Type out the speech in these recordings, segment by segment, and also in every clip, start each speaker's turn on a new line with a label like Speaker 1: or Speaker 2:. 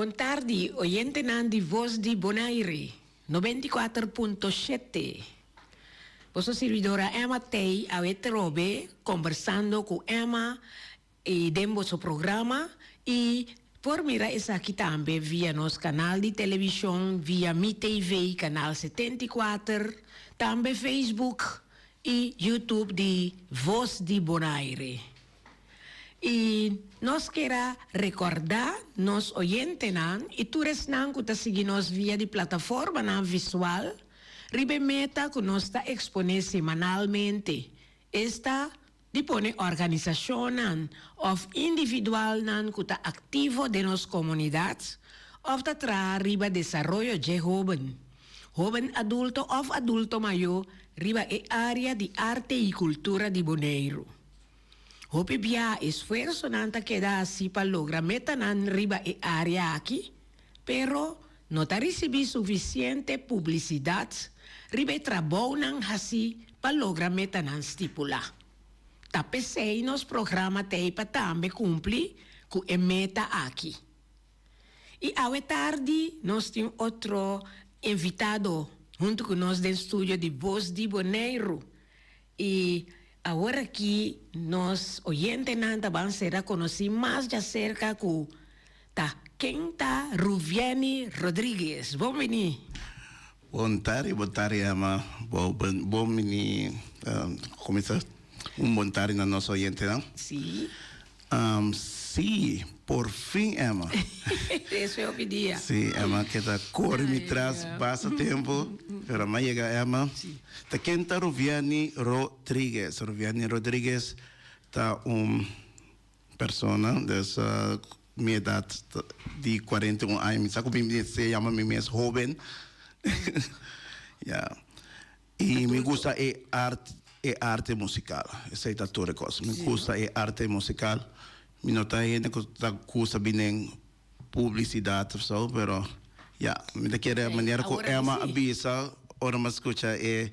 Speaker 1: Bon tardi oyentenan di Voz di Bonaire nobenta i kuater punto shete. Boso sirbidora Emma Tey awe trobe kombersando ku Emma y den boso programa y por mira esaki tambe via nos canal di television via Mi TV canal setenta y kuater, tambe Facebook y YouTube di Voz di Bonaire. Y nos kera recorda nos oyentenan y tur esnan cu ta sigui nos via di plataformanan visual riba e meta cu nos ta expone semanalmente, esta. di pone organisashonnan òf individualnan ku ta aktivo den nos komunidat òf ta traha riba desaroyo dje hóben, hóben adulto òf adulto mayó riba e área di arte i kultura di Boneiru. Hopi biaha esfuersonan ta keda hasi pa logra metanan riba e área aki. pero no ta ricibi suficiente publicidad riba e trabounan haci pa logra metanan stipula. Ta pesey nos programa t'ey pa tambe cumpli cu e meta aki. Y awe tardi nos tin otro invitado hunto cu nos den studio di Voz di Boneiru. I awor aki nos oyentenan ta ban ser a konosí mas djaserka ku ta ken ta Ruvieni Rodriguez. Bon biní! Bon
Speaker 2: tardi, bon tardi Emma. Bo bon biní, kominsa un bon tardi na nos oyentenan. Sí.
Speaker 1: Am,
Speaker 2: Sí, por fin Emma. Eso e
Speaker 1: hopi dia. Sí, Emma ke ta
Speaker 2: kore mi tras basta tempu, pero ama yega Emma. Ta ken ta Ruviani Rodriguez? Ruviani Rodriguez ta un persona des mi edat di cuarenta i un aña, mi sa ku mi mester yama mi mes hoben. Ya. Y mi gusta e art e arte musical esey ta tur e cos mi gusta e arte musical mi no ta hende cu ta gusta binen publicidad of so pero ya mi ta kere manera cu Emma a bisa ora mi a scucha e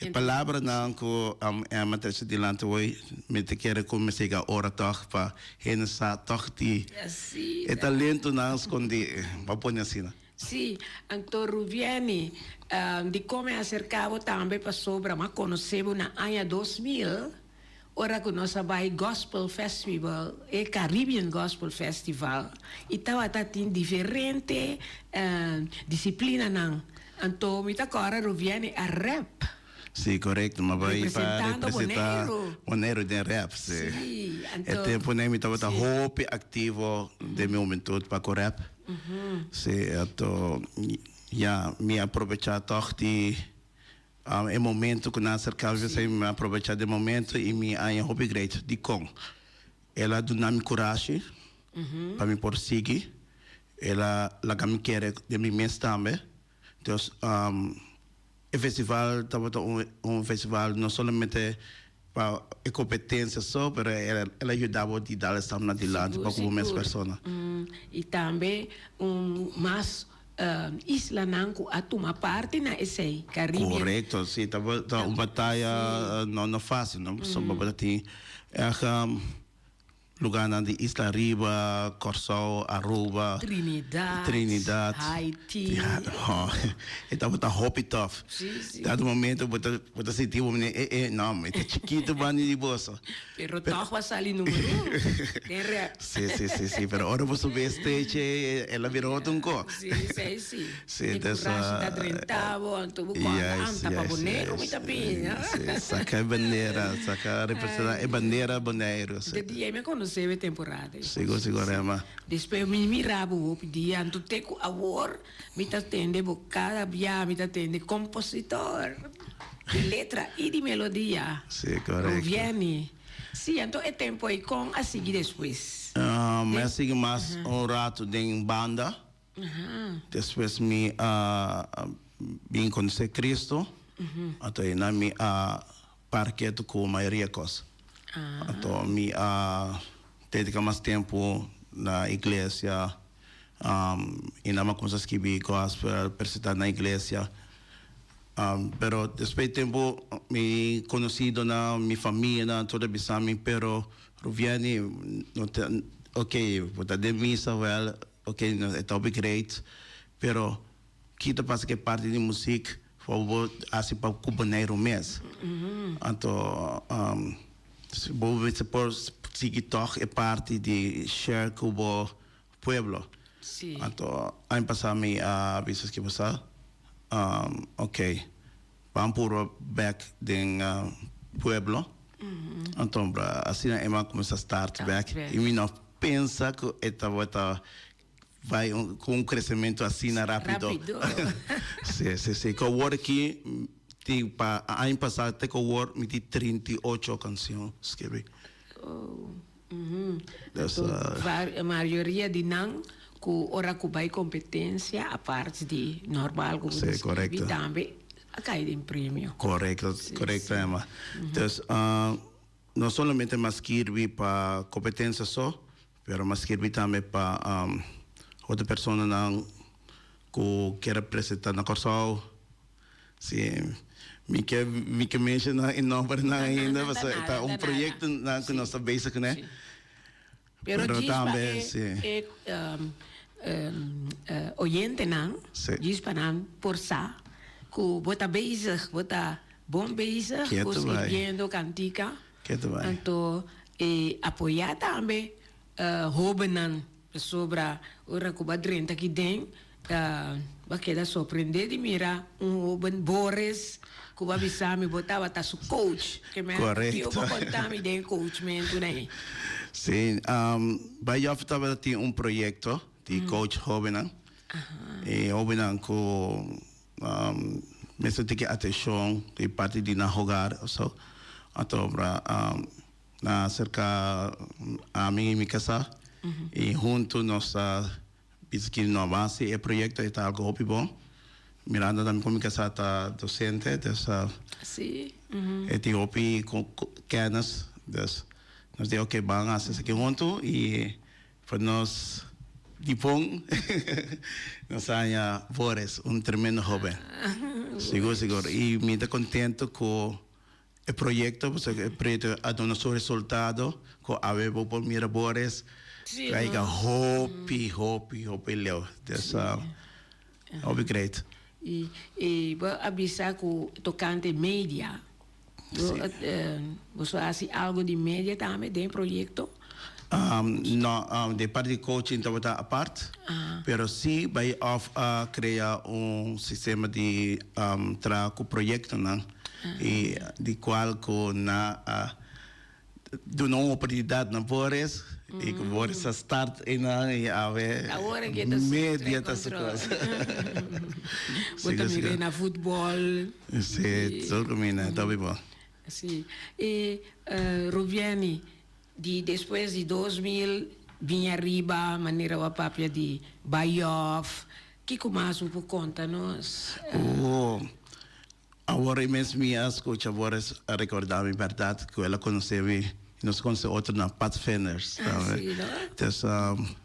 Speaker 2: e palabranan cu Emma a trecha dilanti hoy mi ta kere cu mi siga a ora tog pa hende sa tog di e talentonan scondi bo pone asina. Sí,
Speaker 1: Anton Ruviemi, dikon mi aserká bo tambe pasobra mi a konosé bo na aña dos mil, ora ku nos a bai Gospel Festival, e Caribbean Gospel Festival, i tabata tin diferente disiplinanan. Anto mi ta kòrda Ruviemi a rèp. Sí, korekto,
Speaker 2: mi a bai pa representá Boneiru den rèp, sí.
Speaker 1: E tempunan
Speaker 2: mi tabata hopi aktivo den mi humentud pa ku rèp. Sí, ato ya mi a probecha tog di e momento cu nan a cerca mi esei mi a probecha den momento y mi a haña hopi great. Dicon? El a duna mi curashi pa mi por sigui, el a laga mi kere den mi mes tambe. Entos, e festival tabata un festival no solamente pa e competencia so, pero el a yuda bo di dal e stap nadilanti pa cu bo mes persona. Y tambe
Speaker 1: un mas islanan cu a tuma parti na esey, Caribbean. Corecto, si,
Speaker 2: ta un bataya no facil, no, pasobra bo ta tin. Lugarnan di Isla Riba, Kòrsou, Aruba, Trinidad, Haiti, ya,
Speaker 1: ho,
Speaker 2: e tabata hopi tòf. Dado un momento bo ta, bo ta sinti bo manera, eh, eh, nò, mi ta chikitu banda di boso. Pero tòg bo a
Speaker 1: sali numer un, den rèp. Si, si, si, si,
Speaker 2: pero ora bo subi e stage, el a bira otro un kos. Si, esei si.
Speaker 1: Si ta sa. E kurashi ta drenta bo anto bo kòrda Yes anta pa yes Boneiru mi yes ta piña. yes yes saka e
Speaker 2: bandera saka representa e Ay. bandera Boneiru si. De di ei mi a konosé
Speaker 1: bo e temporada ei Sigo pues sigo si. Rema.
Speaker 2: Despues mi mira
Speaker 1: bo hopi dia anto te ku awor mi ta tende bo kada bia mi ta tende kompositor di letra i di melodia Si korekto.
Speaker 2: Ruviani
Speaker 1: si anto e tempo ei kon a sigui despues? Ahn mi Den a sigui
Speaker 2: mas Aha. un ratu den banda. Despues mi a bin conoce Cristo, anto eynan mi a parket cu mayoria cos. Anto mi a dedica mas tempo na iglesia, eynan mi a cuminsa skibi gospel, presenta na iglesia. Pero despues di tempo mi conocidonan, mi famianan tur a bisa mi, pero Ruviani, no ta, ok, bo ta den misa wel. Ok nos e topic reet pero kita pasa ke parti di music for bo haci pa cu Bonaire mes anto bo mester por sigui tog e parti di share cu bo pueblo anto
Speaker 1: aña
Speaker 2: pasa mi a bisa esque bo sa ok Ban puru bek den pueblo. Anto asina e man cuminsa start bek. Y mi no pensa cu e tabata bay cu un crecemento asina rapido. Si, si, si. Cu awor aki, ti pa aña pasado te cu awor mi tin trinta i ocho cancion scribi.
Speaker 1: Anto mayoria di nan ku ora ku bai kompetensia aparte di normal ku bo ta skirbi tambe a kai den premio. Korekto korekto
Speaker 2: Emma dus no solamente mas skirbi pa kompetensia so pero mas skirbi tambe pa otro personanan ku kere presenta na Kòrsou. Sí, mi ke mi ke menshoná e nòmbernan ainda, pasobra e ta un proyektonan ku nos ta bezig kuné. Pero
Speaker 1: djis pa e e oyentenan, djis pa nan por sa ku bo ta bezig, bo ta bon bezig ku skiribiendo kantika, anto e apoyá tambe hóbennan. Pasobra ora ku bo a drenta aki den, bo a keda sorprendé di mira un hóben Boris ku bo a bisa mi bo tabata su kouch. Ke mester ku tio bo konta mi den e kouchmentunan ei? Sí,
Speaker 2: Bai Jòffi tabata tin un proyekto di kouch hóbennan. E hóbennan ku mester tin ke atenshon di parti di nan hogar, pasobra na cerca ami y mi casa y hunto nos ta bisa kin no avance e proyecto e ta algo hopi bon. Mirando tambe cu mi casa ta docente dus e tin hopi kennis dus nos di ok ban haci esaki hunto y pa nos dipon nos a haña Boris un tremendo hoben sigur sigur y mi ta contento cu. E proyekto a duna su resultado ku awe bo por mira bo a rès traiga hopi hopi hopi leu des hopi great. I
Speaker 1: bo a bisa ku tokante media boso hasi algu di media tambe den e proyekto? No,
Speaker 2: e parti di coaching tabata apart, pero si bai of a crea un sistema di traha cu proyectonan y di cual cu nan a duna un oportunidad na Boris y cu Boris a start eynan y awe media ta su cosa.
Speaker 1: Bo ta mira na futbol. Si,
Speaker 2: tur cu mina, ta obi bo. Si,
Speaker 1: y Rubieny, Di despues di dos mil bin ariba manera bo a papia di bayof, kiko mas bo por konta nos? Oh,
Speaker 2: awor ei mes mi a skucha bo a rekorda mi bèrdat ku el a konosé mi, i nos a konosé otro na Pathfinders. Así no? Entonces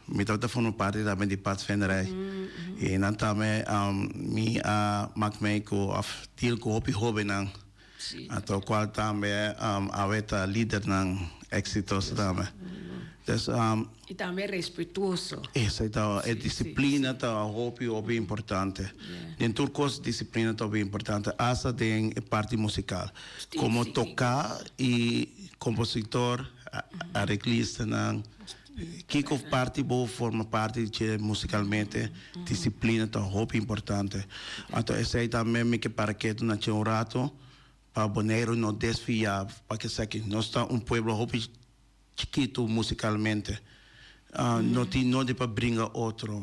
Speaker 2: mi tabata forma parti tambe di Pathfinder ei. I nan tambe mi a mak mei ku òf deal ku hopi hóbennan. Anto cual tambe awe ta lidernan exitoso tambe. Pues.
Speaker 1: Y tambe respetuoso. Esa ta, e
Speaker 2: disciplina ta hopi hopi importante. Den tur cos disciplina ta hopi importante, hasta den e parti musical. Como toca y compositor, areglistan nan. Kiko parti bo forma parti di dje musicalmente? Disciplina ta hopi importante. Anto esey tambe mi ke para ketu na dje un rato pa Boneiru no desfia pa ke sa ke nos ta un pueblo hopi chikitu musicalmente. No tin nodi pa bringa otro,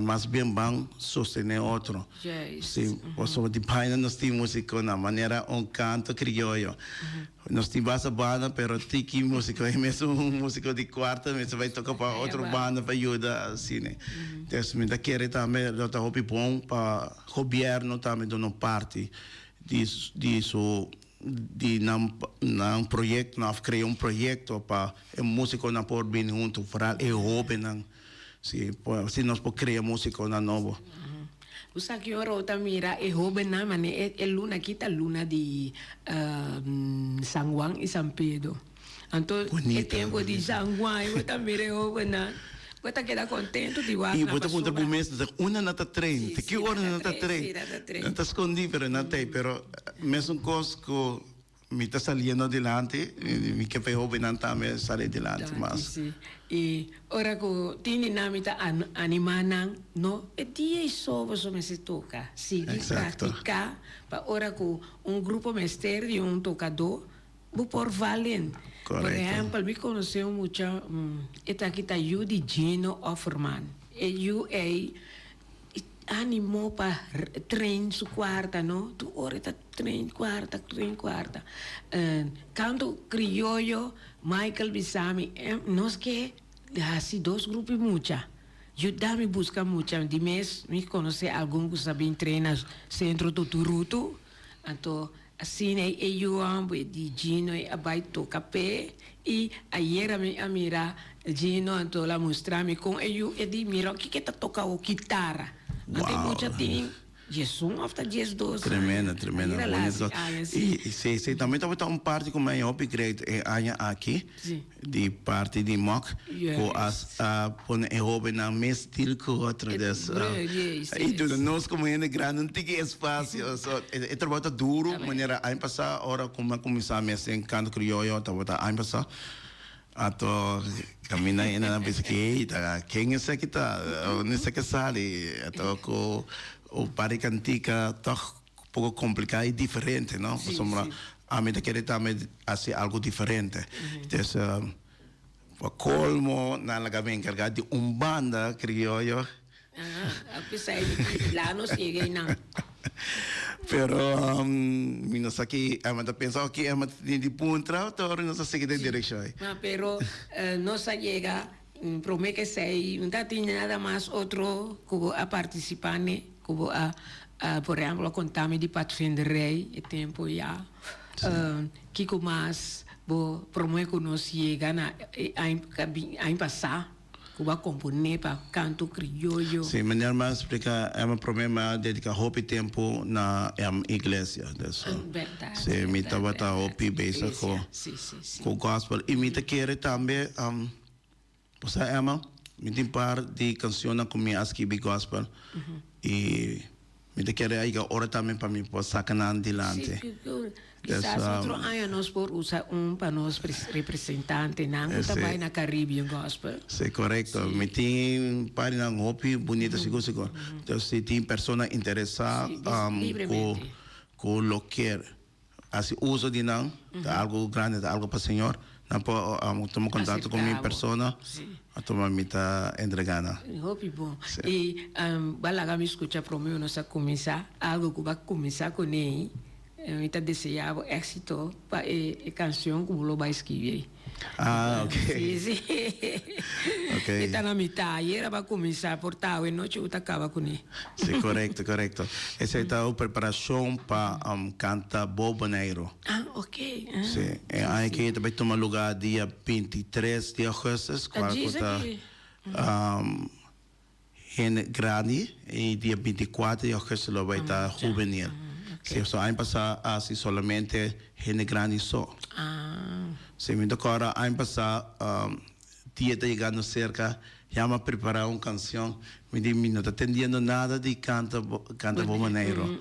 Speaker 2: mas bien ban sostene otro. Si, pasobra di baina nos tin musiconan, manera un canto crioyo. Nos tin basta banda pero Tiki musico e mes un musico di cuarto e mester bay toca pa otro banda pa yuda asina entonces mi ta kere tambe lo ta hopi bon pa gobierno tambe duna un parti di di su di nan nan proyectonan of crea un proyecto pa e musiconan por bini hunto foral e hobennan. Si por así nos por crea musiconan nobo. Bo sa
Speaker 1: ki ora bo ta mira e hobennan, ma ne e luna aki ta luna di San Juan i San Pedro. Anto e tempo di San Juan i bo ta mira e hobennan, bo ta keda contento di wak nan basura. I bo ta puntra bo mes,
Speaker 2: Unda nan ta train? Te ki ora nan ta
Speaker 1: train? Nan
Speaker 2: ta
Speaker 1: scondí pero nan ta
Speaker 2: ei. Pero mesun cos cu Mi ta saliendo adelante, mi ke pa e hobennan tambe sali adelante mas. Danki, si. I
Speaker 1: ora ku tin di nan mi ta animá nan, No e dia i sobo so mester toka, sigui praktiká
Speaker 2: pa
Speaker 1: ora ku un grupo mester di un tokadó, bo por val den. Por ehèmpel, mi
Speaker 2: konosé un
Speaker 1: mucha, e ta kita yu di Gino Offerman. E yu ei. E animó pa train su cuarta, no? Tur ora e ta train cuarta, train cuarta. En canto crioyo, Michael bisa mi, Em, nos ke haci dos grupi mucha. Yuda mi busca mucha. Di mes mi conoce algun cu sa bin train na Centro Tuturutu. Anto. Asina e eyuan bo e di Gino e a bai toka p'e i ayera mi a mira Gino anto el a mustra mi kon e yu e di mira oki ke ta toka bo kitara anto e mucha tin
Speaker 2: dies
Speaker 1: un of ta dies dos aña Tremendo, tremendo, ayera
Speaker 2: la bonito. hasi
Speaker 1: aña si. I si, si, tambe tabata
Speaker 2: un parti ku mi a hopi great e aña aki. di parti di moc cu a pone e hobennan mes deal cu otro des y duna nos como hende grandi un tiki espacio so e trabao ta duro manera aña pasa ora cu mi a cuminsa mes den canto crioyo tabata aña pasa ato camina hende nan bisa ki ey ta ken esaki ta unda esaki a sali ato cu un par di cantica tog. poco complica y diferente no pasobra ami ta kere tambe haci algo diferente entonces pa colmo nan la gabi encarga di un banda crioyo
Speaker 1: pero
Speaker 2: mi no sa ki Emma ta pensa o ki Emma ta tene di puntra tori nos ta sigui den direccion.
Speaker 1: Prome kesey no ta tin nada mas otro ku bo a partisipa ne ku bo a por ehempel a konta mi di Pathfinder Rey e tempu ya kiko mas bo prome ku nos yega na e año pasa ku bo a kompone pa kanto krioyo. Si miner m'a
Speaker 2: splika Emma prome mi a dedika hopi tempu na em iglesia, si
Speaker 1: mi tabata
Speaker 2: hopi bezig ku Cu gospel y mi ta kere tambe bo sa Emma mi tin par di cancionnan cu mi a skibi gospel y mi ta kere a yega ora tambe pa mi por saca nan dilanti Kisas
Speaker 1: otro aña nos por usa un pa nos representantenan cu ta bay na Caribbean gospel. Si corecto
Speaker 2: mi tin paginanan hopi bunita sigur sigur si tin persona interesa cu lo kier. Haci uso di nan ta algo grandi, ta algo pa Señor. Nan por tuma contacto cu mi persona pa tuma mi ta entrega nan. Hopi bon.
Speaker 1: Y ba laga mi scucha prome nos a cuminsa algo cu ba cuminsa cunei. Mi ta deseabo exito pa e cancion cu bo lo bay scribi ey. Ah, ok.
Speaker 2: Sí, sí.
Speaker 1: Ok.
Speaker 2: E ta na mitá.
Speaker 1: Ayera bo a kuminsá por ta awe nochi bo ta kaba kuné. Sí, korekto,
Speaker 2: korekto. Esei ta e preparashon pa kanta Bo Boneiru. Ah, ok. Ah.
Speaker 1: Sí. E aña
Speaker 2: kei ta bai tuma lugá dia binti tres di augustus, kua ku ta. Ta djis aki. Hende grandi y dia binti cuater di augusto lo bai ta juvenil. Si so aña pasa a hasi solamente hende grandi so. Si mi ta cora aña pasa dia ta yegando cerca ya mi a prepara un cancion mi di mi no ta tendiendo nada di canta canta Bonaire.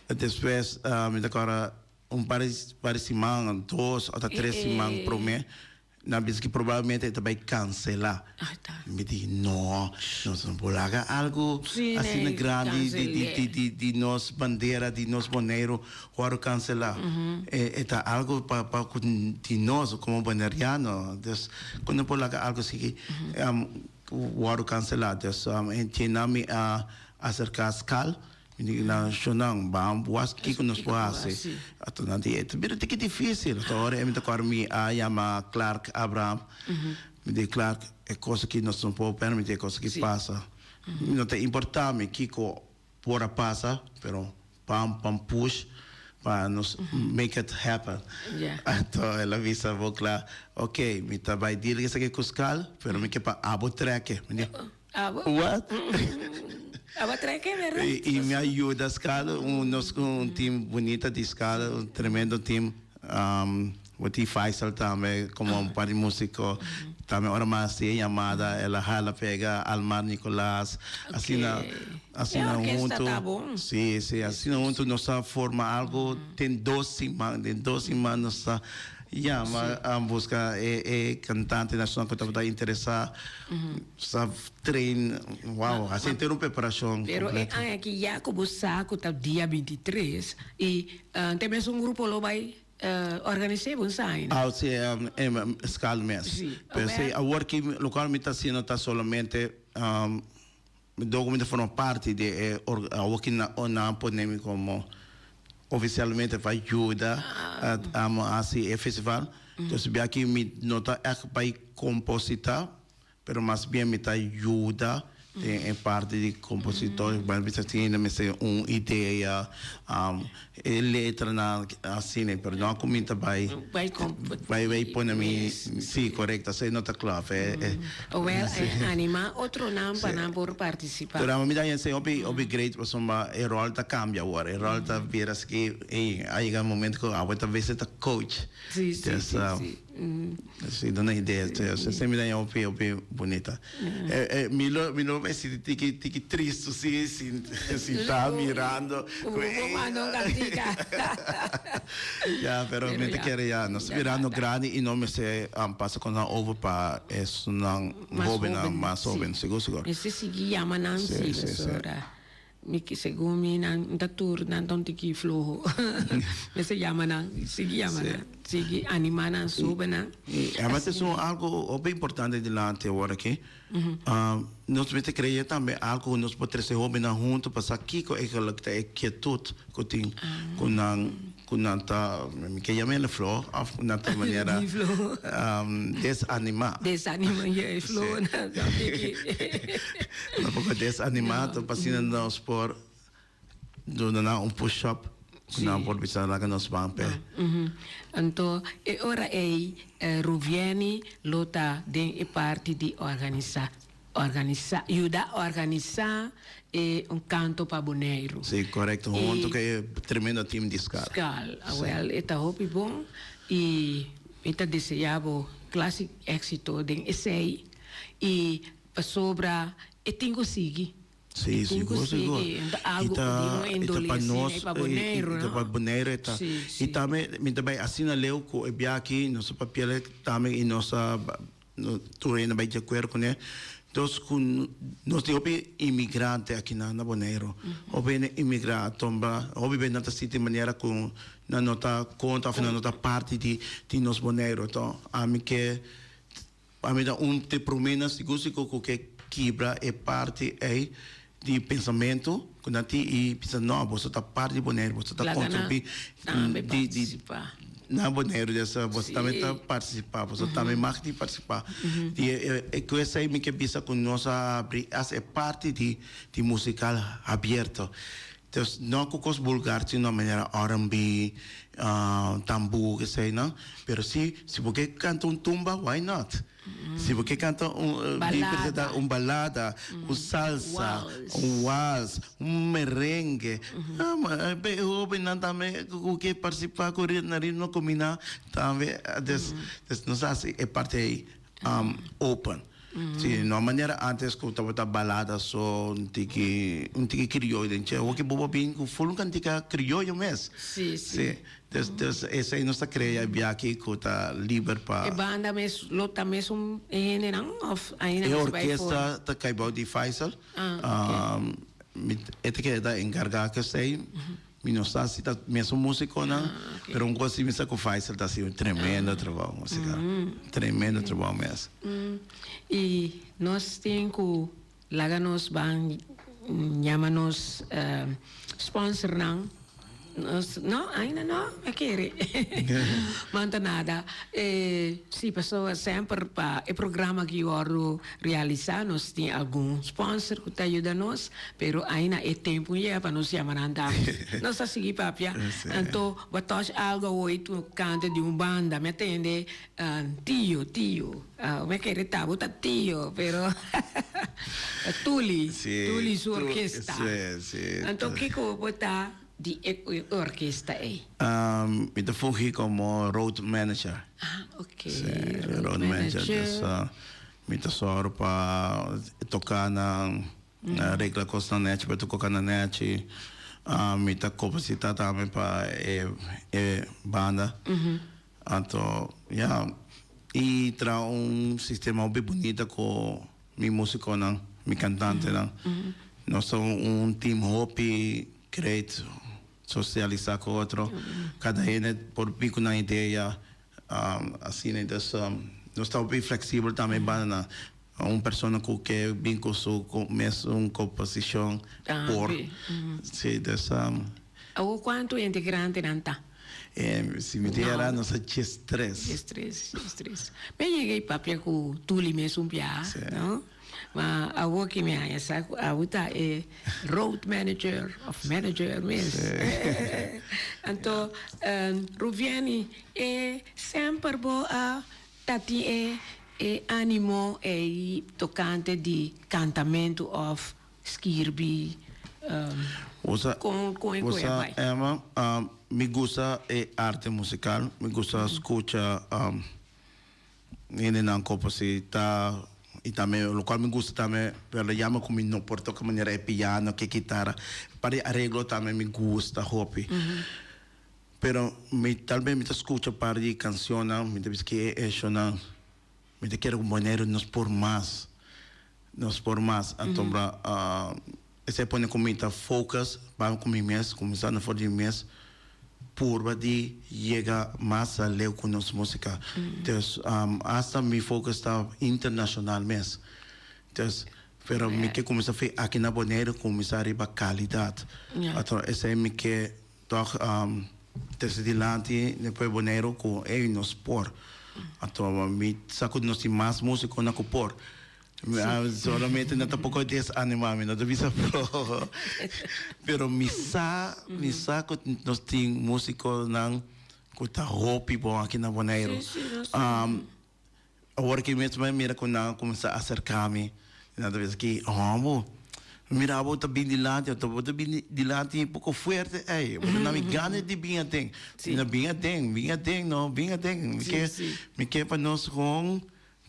Speaker 2: Despues mi ta cora un par di siman dos ota tres siman prome. Nan bisa ki probablemente e ta bai kansela. Mi di no, nos no por laga algu asina grandi di nos bandera di nos Boneiru wòrdu kanselá. E ta algu pa ku di nos komo boneiriano. Dus ku no por laga algu asiki wòrdu kanselá. Dus e tienan mi a aserká Skal. Indignacionnan, Bam was kico nos por haci. Atonan di, E ta bira tiki dificil. Ta ora e mi ta cor mi a yama Clark Abraham. Mi di, Clark, e cos aki nos no por permiti e cos aki pasa. No ta importa mi kico por a pasa, pero bam pa un push pa nos make it happen. Anto el a bisa bo cla, Oke, mi ta bay deal esaki cu Scal, pero mi ke pa abo treke. Mi di, Abo treke berda. Y mi a yuda scala un nos cu un team bunita di scala un tremendo team bo tin Faisal tambe como un par di musico tambe ora mi a haci e yamada el a hala pega Almar Nicolas asina asina hunto si
Speaker 1: si asina
Speaker 2: hunto nos a forma algo den dos siman den dos siman nos a yama a busca e e cantante nacional cu tabata interesa Sa train, wow, a sinti un preparashon kompleto. Pero e aña ki
Speaker 1: ya ku bo sa ku ta dia bintitres i te mes un grupo lo bai organis'é bo ensaya ne? Aw si e
Speaker 2: skal mes. P'esei awor ki loke mi ta asina ta solamente. Document ta forma parti di e awoki nan pone mi como oficialmente pa yuda amo haci e festival. Entonces bia aki mi no ta echt bay composita pero mas bien mi ta yuda den e parti di compositor. Bay mester tin mester un idea E letranan asina perdon a cuminta bay bay bay pone mi si correcto asina no ta clor fe e Owel e
Speaker 1: anima otronan pa nan por participa. Pero amo mi ta hensay hopi
Speaker 2: hopi great pasobra e rol ta cambia awor e rol ta bira esaki ey a yega momento cu awor ta bese ta coach si si si si. Si duna idea se mira ña hopi hopi bunita mi lo mi lo me sinti tiki tiki tristu si sinta mirando ku e ya pero mi ta kere ya nos ta mirando grandi i no mester pasa kosnan over pa esunnan hobennan mas hoben sigur sigur. Mester sigui yama
Speaker 1: nan si pasobra. Mi ki segun mi nan N ta tur nan ton tiki floho mester yama nan sigui yama nan sigui anima nan sobe nan i aba ta esun
Speaker 2: algo hopi importante dilanti awor aki nos mester crea tambe algo cu nos por trece hopi nan hunto pa sa kico e ta e kietut cu tin cu nan Cu nan ta, mi ke yama el e floho of cu nan ta e manera desanima. Desanima, ja, e
Speaker 1: floho
Speaker 2: nan ta be aki. Nan poko desanima, ta pa asina nos por duna nan un push up cu nan por bisa laga nos ban p'e. Anto,
Speaker 1: e ora ey Ruvieni lo ta den e parti di organisa. Organisa, yuda organisa e un kanto pa Boneiru. Si, correcto. Hunto
Speaker 2: cu e tremendo team di Scal. Scal. Awel, e ta
Speaker 1: hopi bon y mi ta desea bo clase exito den esey. Y pasobra e tin cu sigui. Si, si, sigur,
Speaker 2: sigur. E tin cu sigui. Algo cu di un
Speaker 1: indolencia
Speaker 2: asina y pa Boneiru, no? Y ta pa Boneiru e ta. Si, si. Y tambe mi ta bay asina leu cu e biaha aki nos a papiel e tambe y nos a. No tur hende bai diakuerdo kuné. Dos ku nos tin hopi inmigrante akinan na Boneiru. Hopi hende inmigrá a tumba, hopi bes nan ta sinti manera ku nan no ta konta òf nan no ta parti di di nos Boneiru. Tò, ami ke ami ta un te promé nan sigur sigur ku ke kibra e parti ei. di pensamentu ku nan tin i bisa no boso ta parti di Boneiru boso ta kontribuí na Boneiru des boso tambe ta partisipá boso tambe mag di partisipá i e ku esei mi ke bisa ku nos a abri as e parti di musikal habierto dus no ku kos bulgar sino manera rnb tambu esei no pero si si bo ke kanta un tumba why not. Si bo ke kanta un bin presenta un balada, un salsa, un wals, un merengue, e hobennan tambe ku ke partisipa ku ritmo na ritmo kominá tambe des des nos hasi e parti ei open. Si no a manera antes ku tabata balada so un tiki un tiki krioyo den chè, awor ke bo a bin ku full un kantika krioyo mes. Sí. Des esei nos ta krea e biachi ku ta liber pa. E banda mes lo
Speaker 1: ta mes un e hendenan òf ainda mes bai for? E orkesta ta
Speaker 2: kai bou di Faisal. Mi e ta keda enkargá ku esei. Mi no sa si ta mes un músikonan, pero un kos si mi sa ku Faisal ta hasi un tremendo trabou musikal. Tremendo trabou mes. I
Speaker 1: nos tin ku Laga nos ban llama nos sponsornan. Nos, no, ainda no a kere. Manta nada, e si pasobra semper pa e programa aki wordo realisa nos tin algun sponsor cu ta yuda nos, pero aina e tempo no yega pa nos llama nan dame. Nos ta sigui papia. Anto bo touch algo awoy tu canta di un banda, mi a tende. Tio, tio. Awe a kere ta bo ta tio, pero ta Tuli, Tuli su orkesta. Anto kiko bo ta di e orkesta ei? Mi ta
Speaker 2: fungi komo road manager.
Speaker 1: Road
Speaker 2: manager, dus mi ta sòru pa toka nan, regla kosnan nèchi pa toka nan nèchi. Mi ta kobosita tambe pa e banda. Anto, ya. I traha un sistema hopi bunita ku mi musikonan, mi kantantenan. Nos ta un team hopi kreit sosialisá ku otro. Kada hende por bin ku nan idea. Asina entonces nos ta hopi fleksibel tambe banda nan. Un persona cu ke bin cu su mes un composicion por si desam.
Speaker 1: Awo cuanto hende grandenan ta? Si mi
Speaker 2: dera nos ta dies tres. Dies tres, dies tres. Mia
Speaker 1: yega y papia cu Tuli mes un bia, no? Ma awo ke mi haya sa cu awo ta e road manager of manager mes. Anto Ruviani e semper bo a Ta tin e e animo ei tocante di cantamentu of skirbi con
Speaker 2: con e coe a bai? Emma, Mi gusta e arte musical, mi gusta scucha hendenan cu por si ta y tambe locual mi gusta tambe verda jammer cu mi no por toca manera e piano cu e guitara, par di areglo tambe mi gusta hopi. Pero mi tal be mi ta scucha par di cancionnan mi ta bisa ki e eshonan mi ta kere cu Boneiru nos por mas nos por mas antombra esey pone cu mi ta focus ban cu mi mes cuminsando for di mi mes purba di yega mas aleu cu nos musica dus hasta mi focus ta internacional mes dus pero mi ke cuminsa fi aki na Boneiru cuminsa riba calidad patrón esey mi ke. Tòg trese dilanti dempues Boneiru ku ei nos por a troba. Mi sa ku nos tin mas músikonan ku por. Mi a solamente nan ta poko desanimá, mi no ta bisa floho. Pero mi sa, mi sa ku nos tin músikonan ku ta hopi bon aki na Boneiru. Awor aki mes mi a mira cu nan a cuminsa acerca mi, y nan ta bisa aki, Oh, bo mira bo ta bin dilanti, ento bo ta bin dilanti poco fuerte ey, bo ta na mi gana di bin aden. Mi na bin aden, bin aden no, bin aden. Mi ke, mi ke pa nos con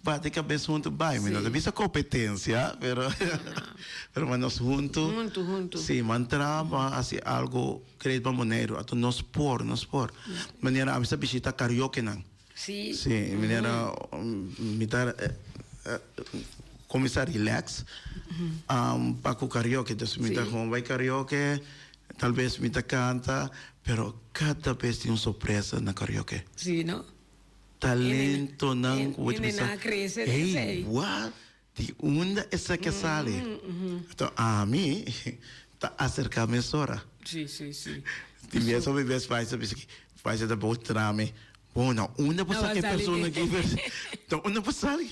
Speaker 2: bate cabes hunto bay. Mi no ta bisa competencia, pero, pero pa nos hunto, si man traba haci algo great pa Boneiru, ato nos por, nos por. Manera ami sa bishita cariokenan. Sí, uhuh. Sí, e manera mi ta cominsá relax. Pa cu karaoke dus mi ta hoon bai karaoke, tal vez mi ta canta, pero cada bes tin un sorpresa na karaoke. Sí, no. Talentonan cu bo ta pensa, ey,
Speaker 1: wak!
Speaker 2: Di unda e sèk a sali? Anto ami ta aserká mesora.
Speaker 1: Tin
Speaker 2: bes hopi bes paisa ta bisa ki paisa ta bou tra mi. Bo, na unda bo saka e persona ki na unda bo sali?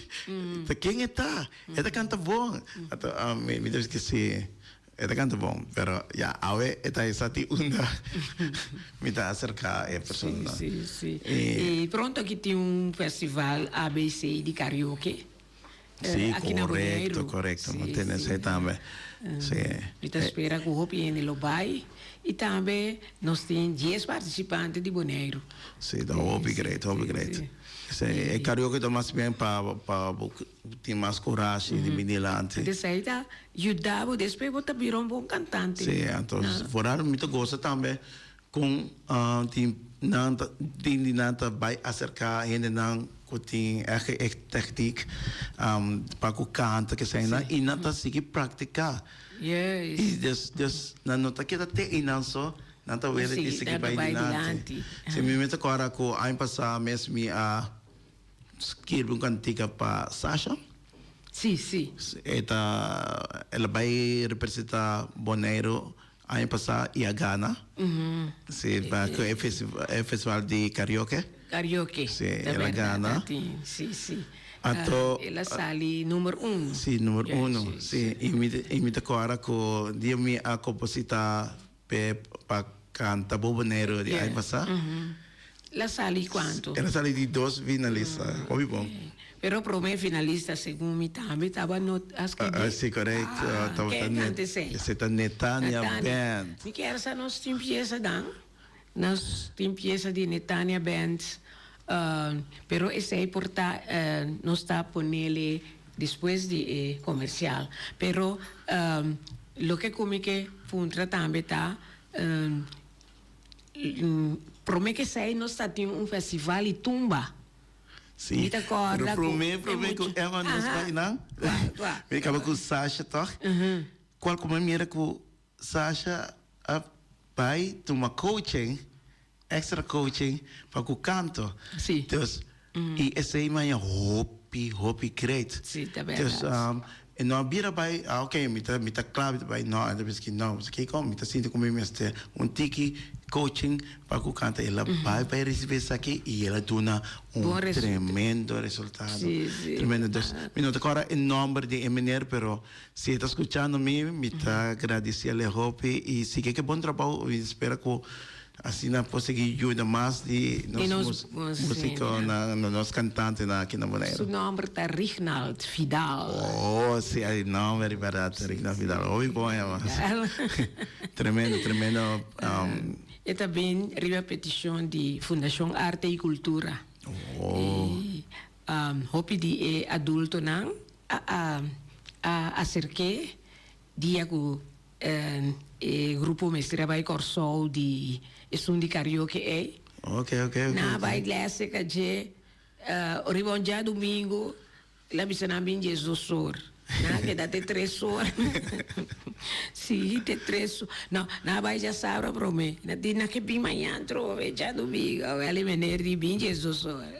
Speaker 2: Ta ken e ta? E ta kanta bon? Anto ami mi ta bisa ki si, e ta kanta bon. Pero ya awe e ta e sa tin unda mi ta aserká e personanan.
Speaker 1: I pronto aki tin un festival ABC di karaoke. Sí,
Speaker 2: korekto, korekto. Bo tene esei tambe. Sí. Mi ta spera
Speaker 1: ku hopi hende lo bai i tambe nos tin dies partisipante di Boneiru. Sí, ta hopi
Speaker 2: greit, hopi greit. Sí, e karaoke ta mas bien pa pa bo tin mas kurashi di bini lanti. Anto esei ta
Speaker 1: yuda bo, despues bo ta bira un bon kantante. Sí, anto, for
Speaker 2: dat mi ta gosa tambe Con di nan ta tin di nan ta bay acerca hendenan cu tin eke e techniek pa cu canta ke esai nan y nan ta sigui practica y
Speaker 1: des des
Speaker 2: nan no ta keda te einan so nan ta wele di sigui bay dilanti. Si mi mi ta acorda cu aña pasa mes mi a skirbi un cantica pa Sasha
Speaker 1: e ta
Speaker 2: ela bay representa Boneiru Aña pasá i a gana. Si, ku e festival di karaoke. Karaoke. Si, el a gana. Si, si.
Speaker 1: Anto. El
Speaker 2: a sali numer
Speaker 1: uno. Si, numer uno.
Speaker 2: Si, i mi ta kòrda ku dia mi a kompositá p'e pa kanta Bobo Negro di aña pasá.
Speaker 1: La
Speaker 2: sali cuanto? El a
Speaker 1: sali di
Speaker 2: dos finalista, hopi bon. Pero
Speaker 1: prome finalista segun mi tambe taba no a scribi. Si corect.
Speaker 2: Tawata Neta. Ken canta
Speaker 1: esey? Esey ta Netania
Speaker 2: Band. Mi kier sa nos
Speaker 1: tin pieza dan. Nos tin pieza di Netania Band pero esey por ta nos ta ponele despues di e comercial. Pero loke cu mi ke puntra tambe ta. Prome kesey nos ta tin un festival di tumba. Sí. Mi ta
Speaker 2: corda cu. Pero prome
Speaker 1: prome cu
Speaker 2: Emma nos bay nan. Tua tua. Mi caba cu Sasha toch. Cual cu mi mira cu Sasha a bay tuma coaching, extra coaching pa cu canto. Sí. Dus. y esey maya hopi hopi great dus
Speaker 1: e no a
Speaker 2: bira bay a ok mi ta mi ta cla mi ta bay no a miskien no pasobra kiko mi ta sinti cu mi mester un tiki coaching pa cu kanta el a bay pa e ricibi esaki y el a duna un tremendo resultado tremendo
Speaker 1: dus
Speaker 2: mi no ta cora e nomber di e meneer pero Si e ta skuchando mi, mi ta gradisiel e hopi i sigui ke bon trabou i spera ku asina por sigui yuda mas di nos musikonan, nos kantantenan aki na Boneiru. Su nòmber ta
Speaker 1: Rignald Vidal. Oh, si
Speaker 2: e nòmber riba dat, Rignald Vidal. Hopi bon e mas. Tremendo, tremendo.
Speaker 1: E ta bin riba petishon di Fundashon Arte i Kultura. I hopi di e adultonan. A a a acerke dia cu e grupo mester a bay Corsou di esun di karaoke ey. Oke oke
Speaker 2: oke. Nan a bay
Speaker 1: glese ca dje. Oriba un dja domingo el a bisa nan bin dje dos or. Nan a keda te tres or. Si te tres or. No nan a bay dja sabra prome. Nan a di nan ke bin maña trobe dja domingo. Wel e meneer di bin dje dos or.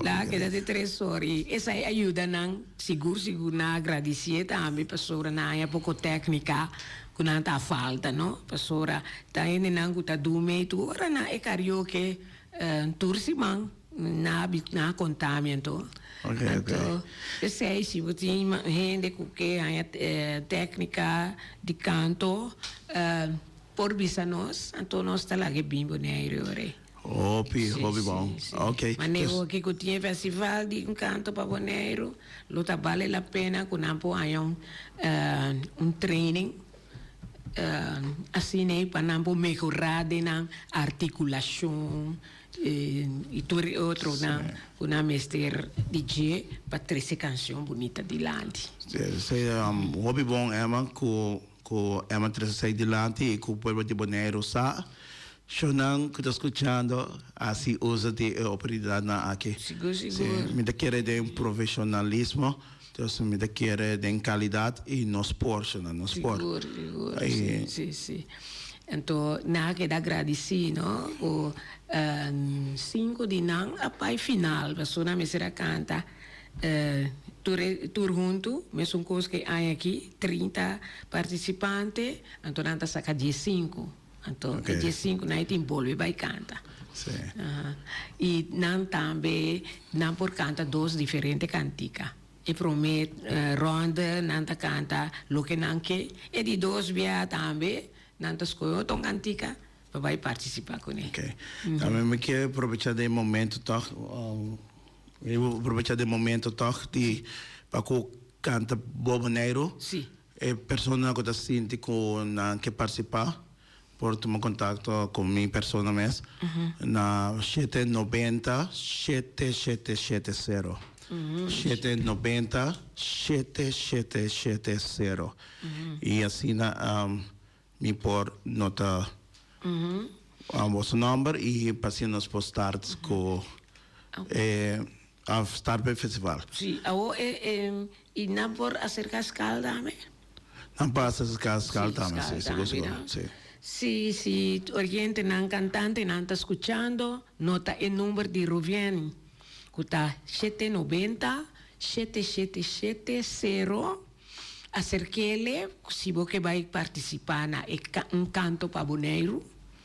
Speaker 1: Nan a keda den tresor i esai a yuda nan sigur sigur nan a gradisié tambe pasobra nan a haña poko téknika ku nan ta falta no pasobra ta hendenan ku ta dun mei tur ora nan e karioke tur siman nan a bi nan a konta mi anto anto
Speaker 2: p'esei si
Speaker 1: bo tin hende ku ke haña téknika di kanto por bisa nos anto nos ta laga e bin Boneiru. Hopi, hopi
Speaker 2: bon. Ok. Maneho ki ku tin
Speaker 1: festival di Encanto pa Boneiru, lo ta bale la pena ku nan por haña un training asina ei pa nan por mehorá den nan artikulashon i tur e otro nan ku nan mester di dje pa trese kanshon bunita dilanti.
Speaker 2: Hopi bon Emma ku Emma trese esei dilanti i ku pueblo di Boneiru sa. Shownan cu ta scuchando a si uza di e oportunidadnan aki. Sigur, sigur. Mi
Speaker 1: ta kere
Speaker 2: den profesionalismo, dus mi ta kere den calidad y nos por, shownan, nos por. Sigur, sigur. Si,
Speaker 1: si, si. Anto nan a keda agradici, no? Cu cinco di nan a bai final, pasobra nan mester a canta tur e, tur hunto, mesun cos cu e aña aki, trinta participantes, anto nan ta saca diescinco. Anto e dje sinku nan e tin bolbe bai kanta.
Speaker 2: I
Speaker 1: nan tambe nan por kanta dos diferente kantika. E promé rònde nan ta kanta Loke nan ke. E di dos bia tambe nan ta skohe otro kantika pa bai partisipá kuné. Ok. Ta mi mi
Speaker 2: ke probechá den e momentu tòg, mi wi probechá den e momentu tòg di pa ku kanta Bobo Neiro. E
Speaker 1: persona
Speaker 2: ku ta sinti ku nan ke partisipá por tuma kontakto ku mi persona mes na shete nobenta shete shete shete sero, shete nobenta shete shete shete sero, i asina mi por nota boso nòmber i pa asina nos por start ku e Of start pa e festival. Sí, awo e
Speaker 1: e y nan por acerca scal tambe. Nan por
Speaker 2: acerca scal tambe, sí, segur, segur, sí. Sí, si
Speaker 1: oyente nan, cantante nan ta scuchando, nota e number di Ruviani cu ta shete noventa, shete, shete, shete, cero. Acerkele si bo ke bai participa na e un canto pa Boneiru.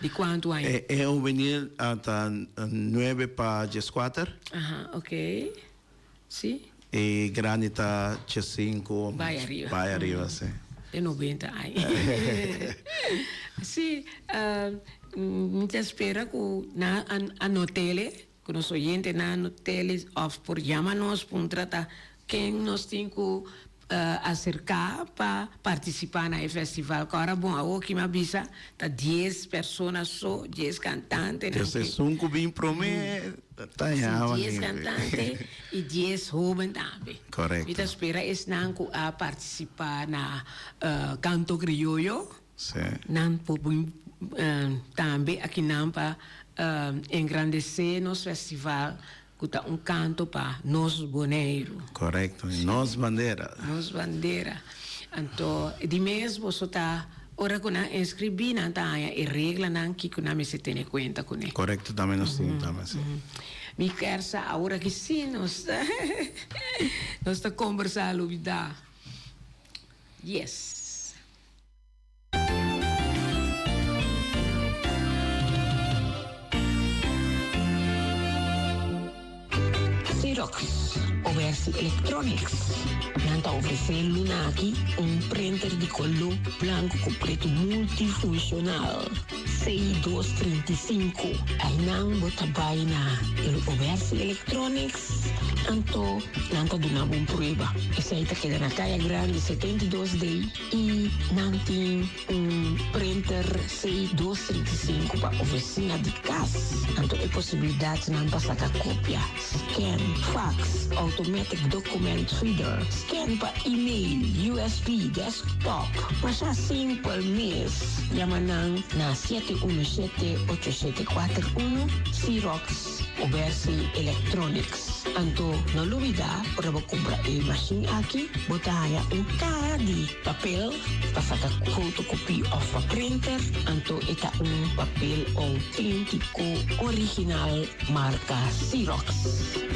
Speaker 1: Di kuantu aña? E ovenir
Speaker 2: a ta nuebe pa djeskuater. Aha, ok.
Speaker 1: Si. E grandi
Speaker 2: ta djesinku o mas bai
Speaker 1: ariba, si.
Speaker 2: Den nobenta
Speaker 1: aña. Si, mi ta spera ku nan a not'el, e. Cu nos oyentenan no tele of por jama nos pa un trata ken nos tin cu acerca pa participa na e festival cu ora bon a hoki m'a bisa ta dies persona so, dies cantantenan Te sesun cu bin
Speaker 2: prome ta ya awan dies cantante
Speaker 1: y dies hoben tambe. Mi ta spera
Speaker 2: esnan
Speaker 1: cu a participa na canto crioyo. Sí. Nan
Speaker 2: por bui
Speaker 1: tambe aki nan pa engrandece nos festival cu ta un canto pa nos Boneiru. Correcto. Y nos
Speaker 2: bandera. Nos bandera.
Speaker 1: Anto di mes boso ta ora cu nan inscribi nan ta haya e reglanan kico nan mester tene cuenta cu ne. Correcto tambe nos tin
Speaker 2: tambe si. Mi
Speaker 1: ker sa ahora aki si nos ta nos ta combersa lo bida. Yes. Xerox, Obersi Electronics, nan ta ofresé lunaki un printer di coló blanco cu preto multifuncional. 62 35 Ainan bo ta bai na El Oberse Electronics anto nan ta duna bo un prueba. Esei ta keda na Kaya Grande 72 de i nan tin un printer 62 35 pa oficina di cas anto e posibilidadnan pa saca copia Scan, Fax, Automatic Document Reader, Scan pa Email, usb, Desktop, Masha simpel mes. Yama nan na siete uno siete ocho siete kuater uno, Xerox o Bersi Electronics. Anto no lubida ora bo kumpra e mashin aki bo ta haña un kaha di papel pa saka fotokopí òf pa printer, anto e ta un papel outéntiko original. Marca Xerox.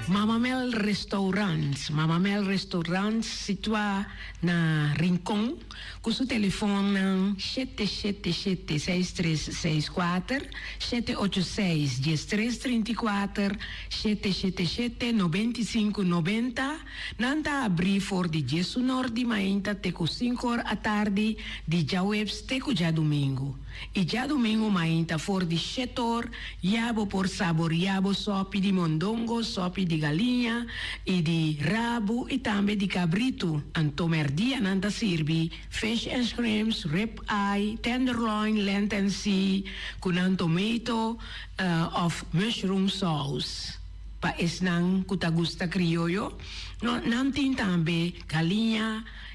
Speaker 1: Mama Mel Restaurant, Mama Mel Restaurant situa na Rincon cu su telefonnan shete shete shete seis tres seis kuater, shete ocho seis dies tres trinta y kuater, shete shete shete nobenta y sinku nobenta. Nan ta abri for di diesunor di mainta te cu sinku or atardi di djaweps te cu djadumingu. i djadumingu mainta for di shetor ya bo por saboria bo sopi di mondongo, sopi di galiña i di rabu i tambe di kabritu. Anto merdia nan ta sirbi fish and shrimps, rib eye, tenderloin, lente en si ku nan tomato òf mushroom sous. Pa esnan ku ta gusta krioyo, nan tin tambe galiña.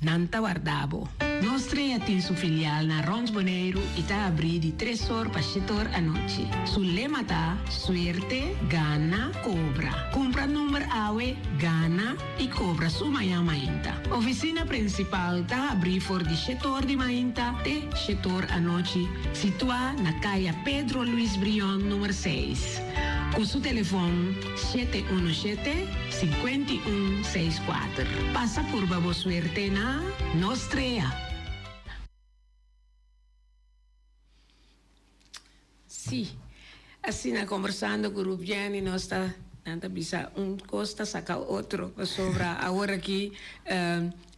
Speaker 1: Nan ta warda bo. Nos tres a tin su filial na Rons Boneiru y ta abri di tres or pa shit or anochi. Su lema ta, Suerte, gana, cobra. Cumpra number awe, gana y cobra su mañan mainta. Oficina principal ta abri for di shit or di mainta te shit or anochi, situa na caya Pedro Luis Brion, number seis, cu su telefon. Shete unu shete, sinkuenta i un, seis kuater. Pasa purba bo suerte na nos trea. Sí, asina kombersando ku Ruth Jenny nos ta nan ta bisa un kos ta saka otro pasobra awor aki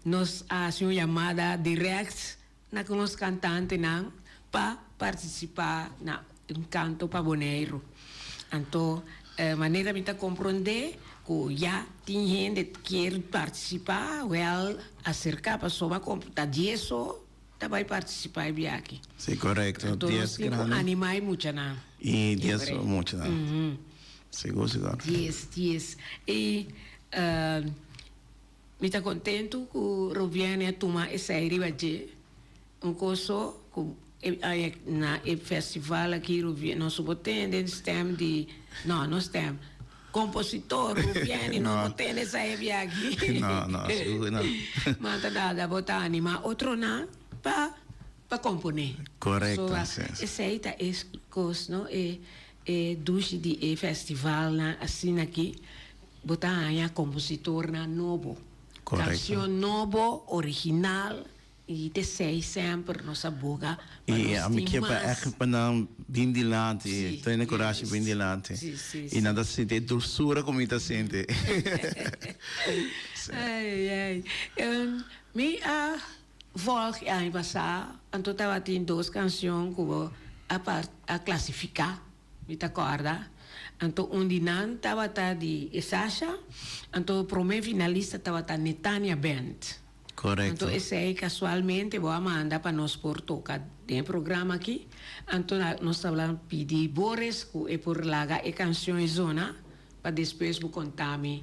Speaker 1: nos a hasi un yamada direkt. Na ku nos kantantenan pa partisipá na Un Kanto pa Boneiru. Anto manera mi ta komprondé ku ya tin hende kier partisipá, wèl aserká pasobra a kom ta dies so ta bai partisipá e biachi. Si, korekto. Anto
Speaker 2: nos tin ku
Speaker 1: animá
Speaker 2: e muchanan.
Speaker 1: I dies so e
Speaker 2: muchanan. Sigur, sigur. Dies, dies.
Speaker 1: I. Mi ta kontentu ku Rubiane a tuma esei riba dje. Un kos so ku e aña na e festival aki Rubiane nos bo tene den stem di no no stem kompositor Rubiane nos bo tene esei e biachi
Speaker 2: manta dada
Speaker 1: bo ta anima otronan pa pa komponé so
Speaker 2: esei ta
Speaker 1: e kos no e E dushi di e festivalnan asina ki bo ta haña kompositornan nobo, kanshon
Speaker 2: nobo,
Speaker 1: original i desei semper nos a buga pa nos tin
Speaker 2: mas. E nan bin dilanti, tene kurashi bin dilanti i nan ta sinti e dulsura ku mi ta sinti.
Speaker 1: Mi a. Vòrg e aña pasá anto tabatin dos kanshon ku bo a part a klasifiká, mi ta kòrda. Anto un di nan tabata di e Sasha, anto promé finalista tabata Netania Band. Anto
Speaker 2: esei
Speaker 1: kasualmente bo a manda pa nos por toka den e programa akí, anto nos ta wla pidi bo res ku e por laga e kanshon e zona pa despues bo konta mi.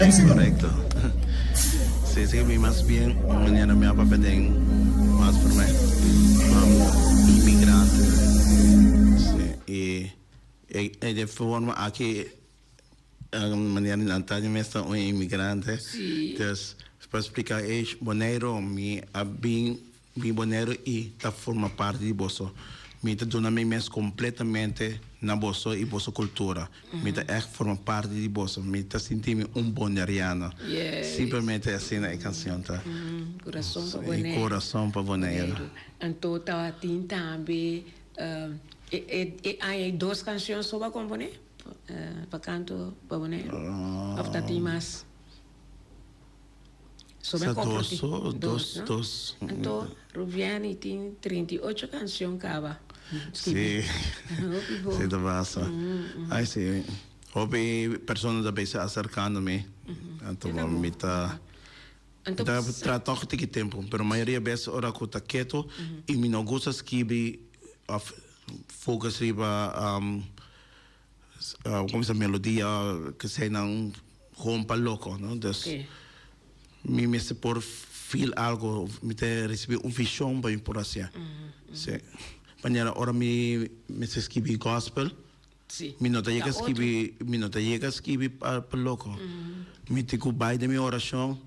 Speaker 2: Ex correcto. Sí sí mi mas bien mañana mi a papia den mas primer mam inmigrante sí y e de forma aki manera nan ta mi mes ta un inmigrante sí. Dus
Speaker 1: pa
Speaker 2: explica ey Bonaire mi a bin Mi Bonero i ta forma parti di boso. Mi ta duna mi mes completamente na boso i boso cultura. Mi ta echt forma parti di boso. Mi ta sinti mi un Boneriano. Simplemente
Speaker 1: asina e
Speaker 2: cancion ta. Corazon pa
Speaker 1: Bonero. Corazon pa Bonero.
Speaker 2: Anto ta
Speaker 1: tin tambe e aña ei dos cancion so bo a compone pa canto pa Bonero? Of ta tin mas? So me
Speaker 2: compro tin dos no anto
Speaker 1: Ruviani tin trinta i ocho cancion caba scribi
Speaker 2: hopi bo si ta pasa ay si hopi persona ta bisa acercando mi anto bo mi ta mi ta
Speaker 1: trata tok tiki
Speaker 2: tempo pero mayoria bes ora cu ta keto y mi no gusta scribi of focus riba. Cuminsa melodia k'esei nan hompa loco, no? Dus Ok. mi mester por feel algo, mi te recibi un vision pa mi por haci'e. Sí. Manera ora mi mester scribi gospel, Sí. mi no
Speaker 1: ta yega Ta otro. scribi,
Speaker 2: mi no ta yega scribi pa loco. Mi tin cu bay den mi oracion.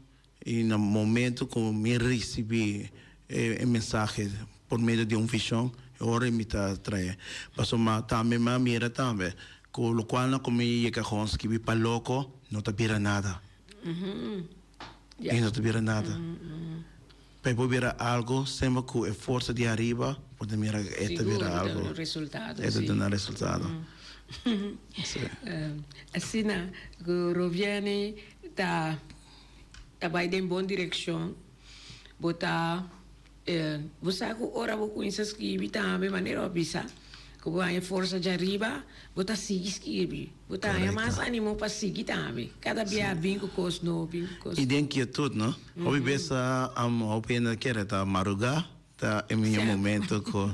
Speaker 2: I na momento ku mi risibí e mensahe por medio di un vishon, e ora mi ta traé. Pasobra mi tambe mi a mira tambe ku lokual na ku mi yega kon skirbi pa loko no ta bira nada. I no ta bira nada. P'e por bira algu semper ku e forsa di ariba por ta mira ku e ta bira algu. E ta duna resultado.
Speaker 1: Asina ku Roviani ta ta bai den bon direccion, bo ta bo sa cu ora bo cuminsa scribi tambe manera bo a bisa cu bo haya forsa dja riba bo ta sigui scribi, bo ta haya mas animo pa sigui tambe, cada bia a bin cu cos nobi, cu cos. Y den quietud no,
Speaker 2: hopi bes hopi hende ta kere ta maruga ta e miño momento cu.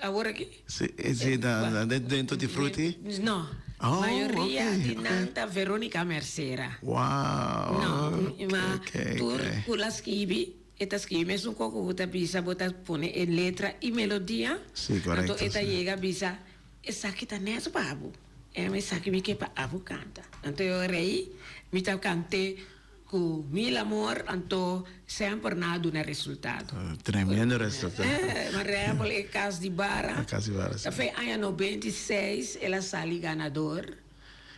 Speaker 2: Awor aki?
Speaker 1: Si, si ta
Speaker 2: dentro di Fruti? No.
Speaker 1: Mayoria di nan ta Veronica Mercera. Wow!
Speaker 2: No, ma
Speaker 1: tur cu el a scribi, e ta scribi mesun cu oco cu ta bisa bo ta pone e letra y melodia. Si, correcto. Anto e ta
Speaker 2: yega bisa,
Speaker 1: Esaki ta net pa bo. Esaki mi ke pa abo canta. Anto yo rei, mi ta cante. Ku mil amor anto semper na a duna resultado. Tremendo
Speaker 2: resultado. Marable
Speaker 1: e kas di bara. E kas di bara si. Ta fe
Speaker 2: aña noventa
Speaker 1: i seis el a sali ganador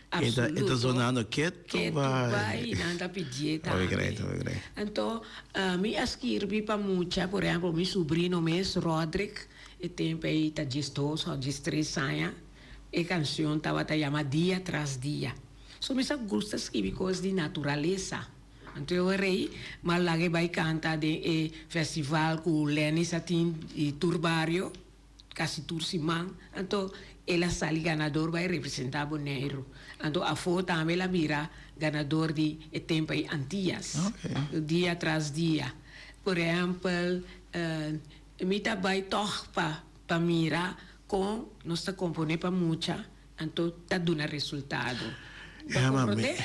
Speaker 1: absoluto.
Speaker 2: E ta sonando ketu bai. Ketu bai
Speaker 1: i nan ta pidié tambe. Obe grei, obe grei. Anto mi a skirbi pa mucha, por ehemplo mi subrino mes Rodrick e tempo ei ta diesdos òf diestres aña e kanshon tabata yama Dia tras dia. So mi sa gusta skibi kos di naturalesa. Anto e ora ei m'a laga e bai kanta den e festival ku Lenny sa tin di tur bario kasi tur siman. Anto el a sali ganador bai representa Boneiru. Anto afó tambe el a bira ganador di e tempa ei Antias. Dia tras dia. Por ehèmpel mi ta bai tòg pa mira kon nos ta komponé pa mucha Anto ta duna resultado. Ema, mi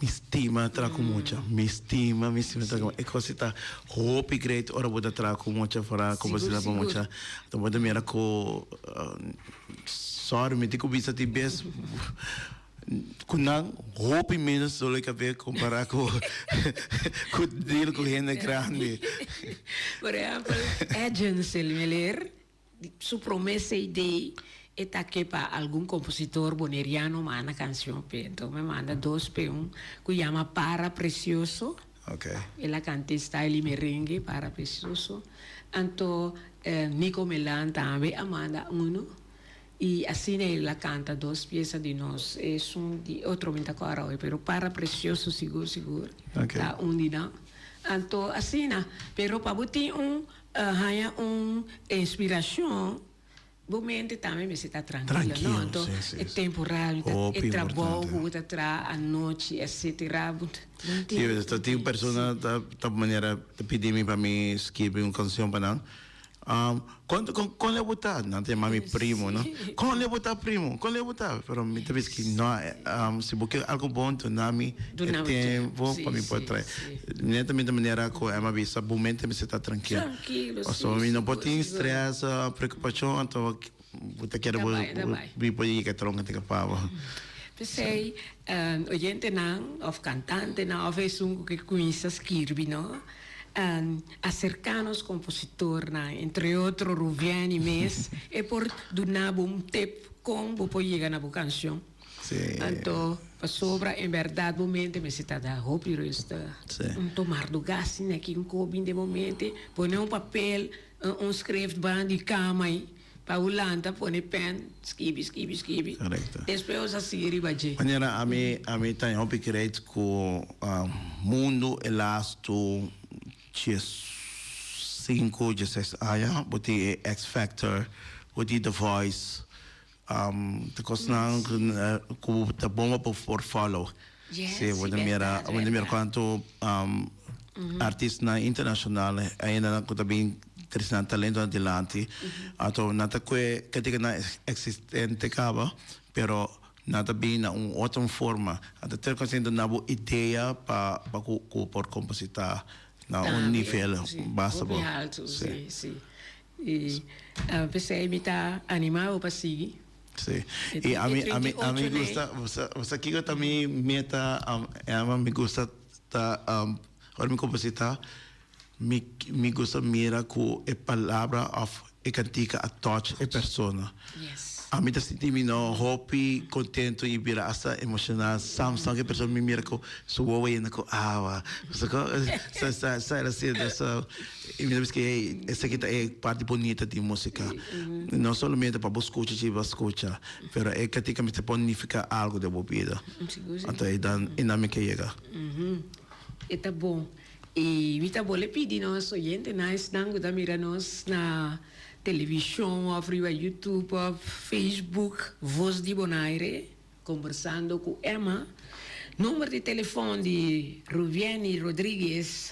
Speaker 2: mi stima traha ku mucha. Mi stima, mi stima traha ku mucha. E kos ei ta hopi great ora bo ta traha ku mucha fora kompositá pa mucha. Anto bo ta mira ku sòri mi tin ku bisa tin bes ku nan hopi menos dolo i kapé kompará ku ku deal ku hende grandi. Por
Speaker 1: ehèmpel Edgens el meleer. Di su prome CD e ta ke pa algun kompositor boneriano manda kanshon p'e. Enton mi a manda dos p'e, un ku yama Para Precioso, el
Speaker 2: a kanta e style
Speaker 1: di merenge, Para Precioso, anto Nico Melan tambe a manda unu, i asina el a kanta dos piesa di nos, esun di otro mi ta kor awe, pero Para Precioso sigur sigur ta
Speaker 2: un di nan.
Speaker 1: Anto asina, pero pa bo tin un A haña un inspiracion, bo mente tambe mester ta trankilo, no? Anto e temporal, e trabou ku bo ta traha anochi, etsetera, bo no tin tempu.
Speaker 2: Si, ta tin persona ta ta manera ta pidi mi pa mi skibi un kanshon pa nan. Kon kon lei bo ta? Nan ta yama mi primo, no? Kon lei bo ta primo? Kon lei bo ta? Pero mi ta bisti, no, si bo ke algu bon, duna mi e tempu pa mi por traha. Netamente manera cu Emma bisa, bo mente mester ta trankil. Pasobra mi
Speaker 1: no por tin stres
Speaker 2: o preocupacion anto bo ta keda bo bi por yega tronco te kapá bo. P'esei,
Speaker 1: oyentenan of cantantenan of esun cu ke cuminsa skirbi no, acercá nos compositornan, entre otro Ruviani mes, e por duna bo un tip con bo por yega na bo cancion. Sí. Anto pasobra en berdad bo mente mester ta da hopi ruste. Sí. Un tomar do gasnan aki un ko bin den bo mente, pone un papel, un un skrefban di kama ei pa bo lanta pone pen skibi skibi skibi. Korekto. Despues
Speaker 2: bo sa sigui riba
Speaker 1: dje. Manera ami
Speaker 2: ami ta hopi krèit ku mundu e lastu dies sinku dies seis aña bo tin e X-Factor, bo tin The Voice. Te cosnan cu ta bon pa bo por follow. Si bo ta mira, bo ta mira cuanto artistanan internacional ayendanan cu ta bin trece nan talentonan dilanti. Anto nan ta cue critica nan existente caba, pero nan ta bin na un otro forma. Nan ta terca siempre na bo idea pa cu bo por composita na un nivel basta bo.
Speaker 1: Y p'esei mi ta anima bo pa sigui. Sí.
Speaker 2: Y ami, ami, ami gusta, sa kico ta mi meta, Emma? Mi gusta ta, ora mi composi ta, mi, mi gusta mira cu e palabra of e cantica a touch e persona. Yes. Ami
Speaker 1: ta sinti mi
Speaker 2: nou hopi contento y bira hasta emocional sam, sam cu e persona mi mira cu su wowoynan cu awa. Sa, sa, sa el a sido. So, Mi ta bisti ey, esaki ta e parti bunita di musica. No solamente pa bo scucha si bo scucha, pero e cantica mester por nifica algo den bo bida. Anto ey dan y nan mi ke yega.
Speaker 1: E ta bon. Y mi ta bole pidi nos oyentenan, esnan cu ta mira nos na television of riba YouTube of Facebook, Voz di Bonaire, Conversando cu Emma, number di telefon di Ruvienny Rodriguez,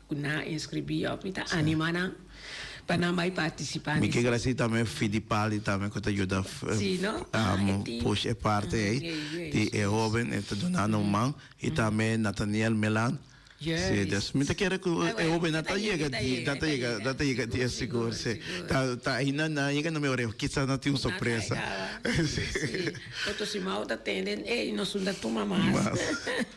Speaker 1: Cu nan a inscribi of mi ta anima nan pa nan bay participa. Mi ke gracia tambe
Speaker 2: Fidipali tambe cu ta yuda push e parte ey di e hoben e ta dunando un man y tambe Nathaniel Milan si dus mi ta kere cu e hobennan ta yega di nan ta yega nan ta yega di e sigur si ta ta ayina nan yega na mi oreho kisas nan tin un sorpresa si.
Speaker 1: Toto Simao ta tende ey nos un ta tuma mas.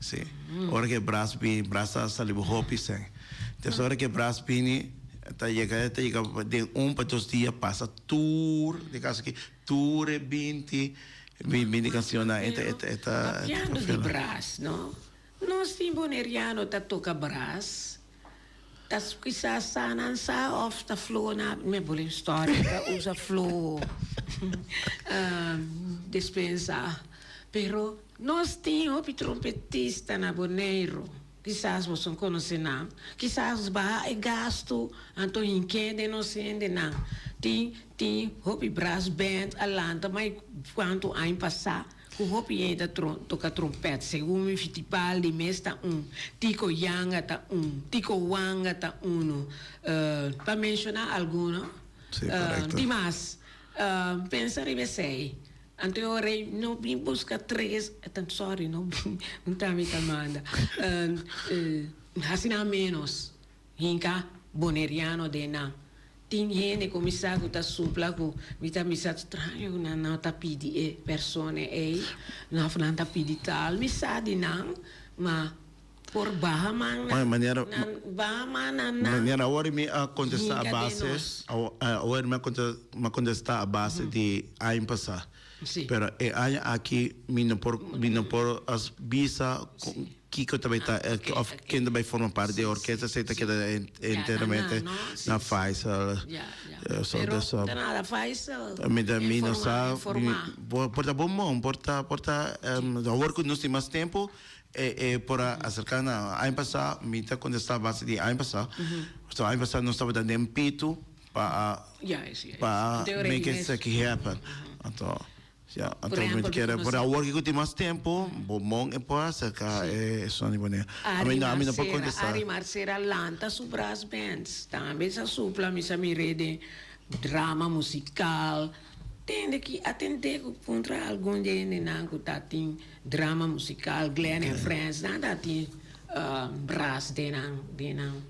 Speaker 2: Si. Ora ke bras bini, bras ta sali bo hopi seng. Entonces ora ke bras bini ta yega, ta yega den un pa dos dia pasa tur de casa aki, tur e binti bin bini cancionnan. Hablando di
Speaker 1: bras, no? Nos tin boneriano ta toca bras. Ta squisa sanan sa of ta fluo na meboling historia ta usa fluo dispensa pero nos tin hopi trompetista na Boneiru kisas boso no conoce nan kisas baha e gasto anto yin ke den nos hende nan tin tin hopi brass band a lanta mai cuanto aña pasa. Ku hopi yei ta toka trompèt, segun mi fitipal di mes ta un, tiko yanga ta un, tiko wanga ta unu, pa menshoná alguno. Sí, korekto.
Speaker 2: Di mas,
Speaker 1: pensa riba esei. Anterior rei no bin buska tres, tan sòri no, un trámita manda, hasi nan ménos. Hinca Boneriano den nan. Tin hende cu mi sa cu ta supla cu mi ta bisa straño cu nan no ta pidi e persona ey, of nan ta pidi tal. Mi sa di nan, ma por baha man nan, nan
Speaker 2: baha man nan
Speaker 1: nan. Manera awor mi a
Speaker 2: contesta a base, awor mi a contesta a base di año pasa. Pero e
Speaker 1: aña aki
Speaker 2: mi no por mi no por bisa kiko ta bay ta of ken ta bay forma parte di e orkesta esey ta keda enteramente na Faisal so
Speaker 1: ta so mi ta mi no sa
Speaker 2: por ta bon bon por ta por ta awor cu nos tin mas tempo e por a acerca nan aña pasa mi ta contesta base di aña pasa so aña pasa nos tabata den pitu. pa make esaki happen. Por awor ke ku tin mas tempu bo mon e por aserka e esun di bo ne. Ami no por kontesta. Ari Marcera lanta
Speaker 1: su brass bands tambe sa supla mi sa mire den drama musikal tende ki atende ku puntra algun di e hendenan ku ta tin drama musikal Glen en Friends nan ta tin brass den nan den nan.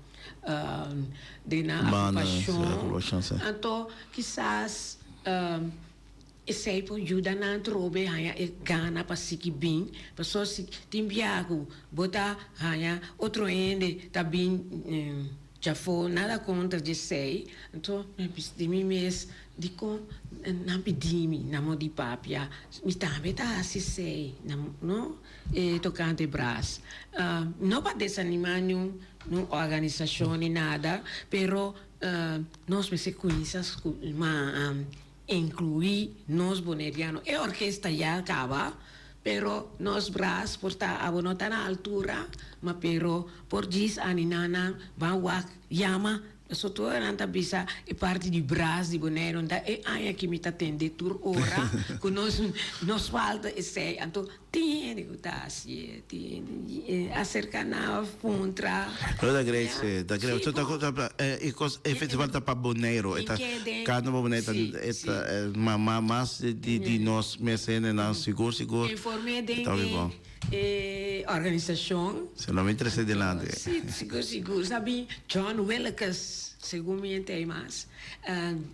Speaker 1: den nan agrupacion, anto kisas esey por yuda nan trobe haya e gana pa siki bin, pasobra si tin bia cu bo ta haya otro hende ta bin djafoo, nada contra djesey, anto mi bisa di mi mes, dicon nan pidimi na mo di papia, mi tambe ta haci esey, no? Tocante bras, no pa desanima niun. No organisashon ni nada, pero nos mester kuinsa ku man inkluí nos boneriano. E orkes ta ya kaba, pero nos bras por ta, abo no ta na altura, ma pero por djis animanan ban wak yama. Sotoranan ta bisa e parti di bras di Boneironan ta e aña aki mi ta tende tur ora ku nos nos falta esei. Anto tin hende ku ta hasi e, tin hende e aserka nan a puntra. Lo ta great si,
Speaker 2: ta great. Si po. E kos e festival ta pa Boneiro. E ta kende pa Boneiro. Si, si. E ta mas di nos mes hendenan sigur sigur. Inform'é den
Speaker 1: e. E organisashon. Su nòmber trese
Speaker 2: dilanti. Si, sigur, sigur.
Speaker 1: Sabi, John Willekes, segun mi henter ei mas.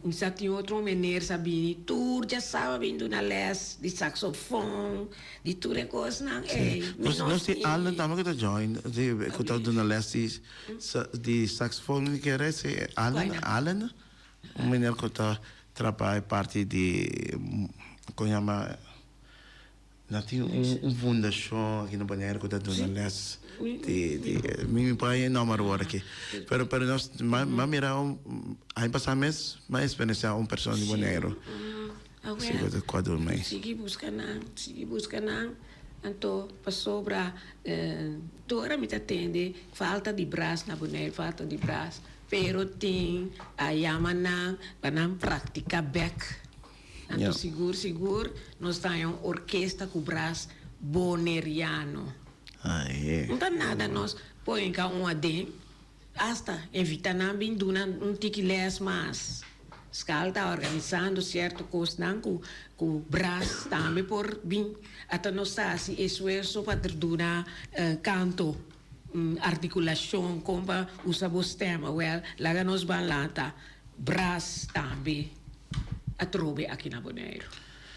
Speaker 1: Mi sa tin otro un mener sa bini tur dje saba a bini duna lès di saksofòn, di tur e kosnan ei. Mi no si.
Speaker 2: Allen tambe ku ta join, ku ta duna lès di, di saksofòn i ke rest ei. Allen, Allen, un mener ku ta trabá e parti di, kon ña ma. No tin un fundashon aki na Boneiru ku ta duna lès di di mi mi pone e nòmber awor aki pero pero nos m'a mira un aña pasá mes m'a eksperensiá un persona di Boneiru si ku ta kò durmi. Sigui buska nan
Speaker 1: sigui buska nan anto pasobra tur ora mi ta tende falta di bras na Boneiru falta di bras pero tin a yama nan pa nan praktiká bèk. Anto sigur sigur nos ta haña un orkesta ku bras boneriano. No ta nada nos por hinka un aden, asta invita nan bin duna un tiki lès mas. Skal ta organisando sierto kosnan ku ku bras tambe por bin. Ata nos ta hasi esfuerso pa duna kanto. Un articulashon kon pa usa bo stèma, wèl, laga nos ban lanta bras tambe atrobe aki na Boneiru.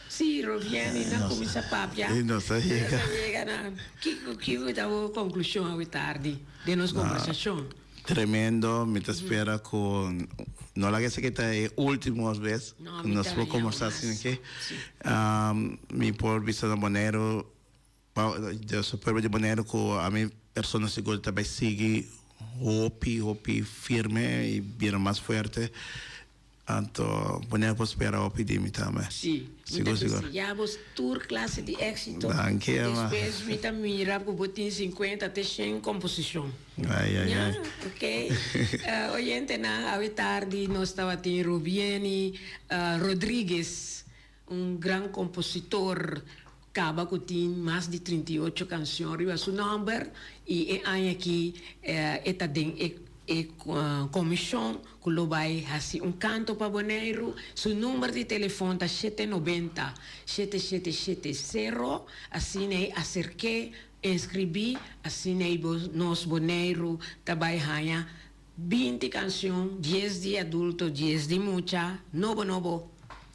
Speaker 1: Sí, Rogieni, nan kuminsá papia. E nos a yega. E nos a yega
Speaker 2: na
Speaker 1: kiko ki ku ta bo konklushon awe tardi den nos kombersashon? Tremendo,
Speaker 2: mi ta spera ku no laga esaki ta e último bes ku nos por kombersá asin'akí. Mi por bisa na Boneiru Pa Dios su pueblo di Boneiru ku ami persona sigur ta bai sigui hopi hopi firme i bira mas fuerte anto Boneiru por spera hopi di mi tambe. Sí, mi
Speaker 1: ta deseá
Speaker 2: bos
Speaker 1: tur klase di éksito. Danki Ema. Despues mi ta mira ku bo tin sinkuenta te shen komposishon. Ai ai ai. Ña,
Speaker 2: ok.
Speaker 1: Oyentenan, awe tardi nos tabatin Rubieny Rodriguez. Un gran kompositor kaba ku tin mas di trinta i ocho kanshon riba su nòmber i e aña aki e ta den e e komishon ku lo bai hasi un kanto pa Boneiru. Su nùmber di telefòn ta shete nobenta, shete shete shete sero, asina ei aserk'é, enskribí, asina ei bo nos Boneiru ta bai haña binti kanshon, dies di adulto, dies di mucha, nobo nobo.